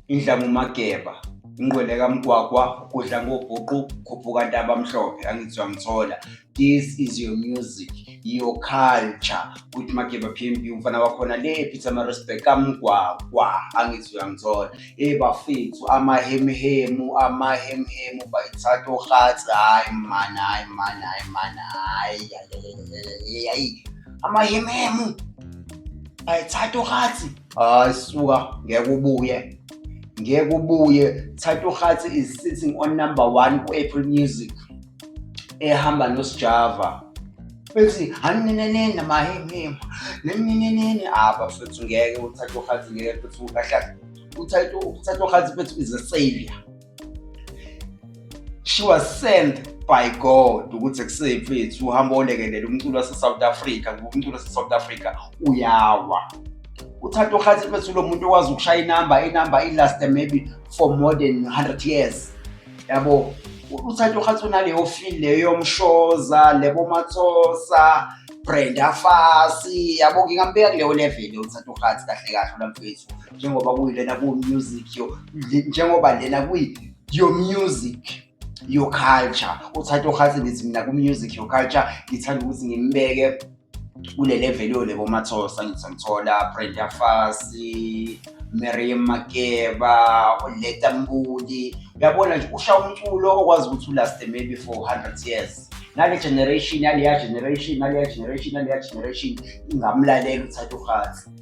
indlamumageba ingqwele kamgwagwa ukudla ngobhuqu khuphuka ntaba mhlophe angizwa ngithola this is your music your culture kuthi mageba p m b umfana wakhona le peter marespect kamgwagwa angizwa ngithola e bafethu amahemhemu amahemhemu bayithatha ohatsi hayi mani hayi mani hayi mani hayi hayi amahemhemu bayithatha ohatsi hayi suka ngeke ubuye ngeke ubuye thatha uhathi is sitting on number one ku-apple music ehamba nosijava bethi haninenene mahemhema neminenene apha ah, futhi ngeke uthathe uhathi ngeke futhi ukahlala uthathe uhathi bethu is a savior she was sent by God ukuthi kusefethu uhamba olekelela umculo waseSouth Africa ngoba umculo waseSouth Africa uyawa uthatha uhathi mfethu lo muntu okwazi ukushaya inamba inamba ilast maybe for more than 100 years yabo uthatha uhathi unaleyo feel leyo yomshoza lebo mathosa Brenda Fasi yabo ngingambeka kuleyo level uthatha uhathi kahle kahle lo mfethu njengoba kuyilena ku music yo njengoba lena kuyi your music your culture uthatha uhathi ngithi mina ku music your culture ngithanda ukuthi ngimbeke kule level yo lebo mathosa ngithi ngithola Brenda Fassie Miriam Makeba uLeta Mbuli uyabona nje usha umculo okwazi ukuthi ulaste maybe for 100 years nale generation naleya generation naleya generation naleya generation ingamlalela uthatha uhathi